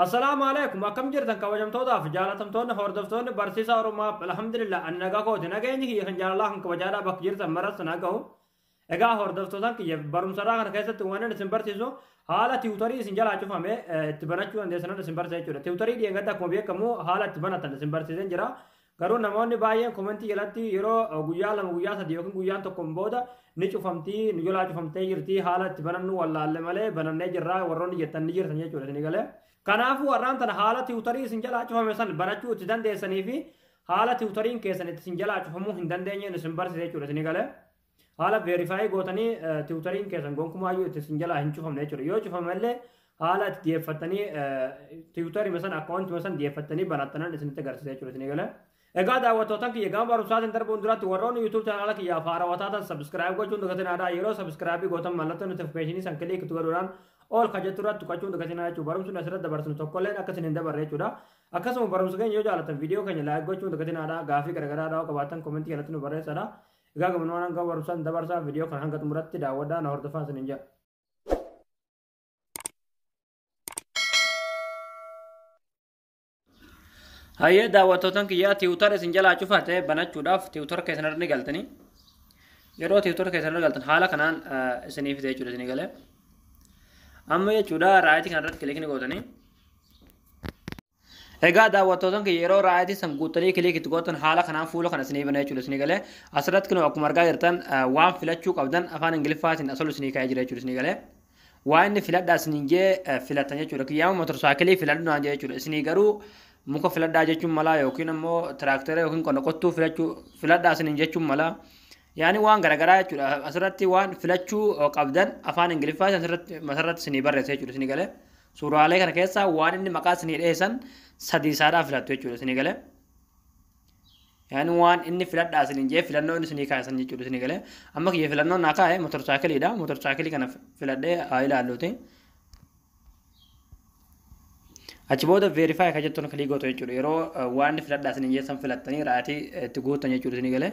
Assalaamu alaikum akkam jirtan kabajamtootaaf jaalatamtoonni hordoftoonni barsiisaa Oromaa alhamdulillah an nagaa kooti nageenyi kiyya kan jaalalaa kan kabajaadhaa bakka jirtan maras na gahu egaa hordoftootaan kiyya barumsarraa kana keessatti waan isin barsiisu haala tiwutarii isin jalaa cufame itti banachuu dandeessan isin barsiisa jechuudha tiwutarii dhiyeenyatti akkuma beekamu haala itti banatan isin barsiiseen jira Garuu namoonni baay'een komentii jalatti yeroo guyyaa lama guyyaa sadii yookiin guyyaan tokkoon booda ni cufamtii nu jalaa cufamtee jirti haala itti banannu wallaalle malee banannee jirra warroonni jettan ni jirtan jechuudha isin galee. Kanaafuu har'aan tana haala tiwutarii isin jalaa cufame san banachuu itti dandeessanii fi haala tiwutariin keessan itti isin jalaa cufamuu hin dandeenyeen isin barsiisa jechuudha isin galee. Haala verify gootanii tiwutariin keessan gonkumaayyuu itti isin jalaa hin cufamne jechuudha. Yoo cufame illee haala itti dhiyeeffattanii tiwutarima san akkaawuntima san dhiyeeffattanii banattanan isinitti agarsiisa jechuudha isin eegala. Egaa daawwattootan kiyya gama barumsaatiin darbuun duratti warroonni YouTube chaanaala kiyyaaf haarawaa taatan subscribe gochuun dagatinaa yeroo subscribe gootan mallattoo notification san kilik itti godhuudhaan ol ka jettu irratti tuqachuun dagatinaa jechuudha barumsi nuti asirratti dabarsinu tokkolleen akka isin hin dabarre jechuudha akkasuma barumsa keenya yoo jaalatan viidiyoo keenya laayik gochuun dagatinaa gaafii garaagaraa yoo qabaatan komentii jalatti nu barreessaa Egaa gabanumaan hanga barumsaan dabarsaa viidiyoo kana hanga xumuratti daawwadhaa na hordofaa isiniin jedha. Hayyee daawwattootan kiyyaa tiwutar isin jalaa cufaa ta'e banachuudhaaf tiwutar keessan irra ni galtanii. Yeroo tiwutar keessan irra galtan haala kanaan isinii fide jechuudha isinii galee. Amma jechuudha raayitii kana irratti kilikni gootanii. Egaa daawwattootan kiyya yeroo raayaatii san guuttanii kiliik itti gootan haala kanaan fuula kana isinii bana jechuudha isinii galee asirratti kunoo akkuma argaa jirtan waan filachuu qabdan afaan ingiliffaatiin asolu isinii kaa'ee jira jechuudha isinii galee waa inni filadhaa isiniin jee filattan jechuudha kiyyaama motorsaakilii filadhu naan jee jechuudha isinii garuu muka filadhaa jechuun malaa yookiin ammoo tiraaktera yookiin qonna qottuu filachuu filadhaa isiniin jechuun malaa yaani waan garaagaraa jechuudha asirratti waan filachuu qabdan afaan ingiliffaatiin asirratti masarratti isinii barreessa jechuudha isinii galee Suuraalee kana keessaa waan inni maqaa isinii dhahee san sadii isaadhaa filattu jechuudha isinii galee. Yaani waan inni filadhaa isiniin jee filannoo inni isinii kaa'e san jechuudha isinii galee. Amma kiyya filannoo naa kaa'e motorsaayikiliidha. Motorsaayikilii kana filadhee haa ilaalluuti. Achi booda veerifaayi kan jettuun kilii gootu jechuudha. Yeroo waan inni filadhaa isiniin jee san filattanii ra'atii itti guuttan jechuudha isinii galee.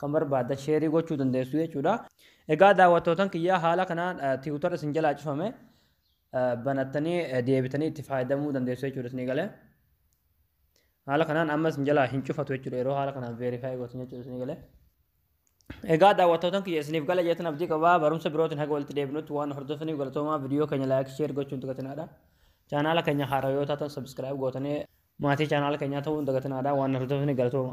kan barbaaddan sheerii gochuu dandeessu jechuudha. Egaa daawwattootan kiyyaa haala kanaan tiwutar isin jalaa cufame banattanii deebitanii itti fayyadamuu dandeessu jechuudha isinii galee. Haala kanaan amma isin jalaa hin cufatu jechuudha yeroo haala kanaan veerifaayi gootan jechuudha isinii galee. Egaa daawwattootan kiyya isiniif gala jeetan abdii qabaa barumsa birootiin haga walitti deebinutti waan hordofaniif galatoomaa viidiyoo keenya laayik sheer gochuun dagatinaadha. Chaanaala keenya haaraa yoo taatan sabiskiraayib gootanii maatii chaanaala keenyaa ta'uun dagatinaadha waan hordofaniif galatoomaa.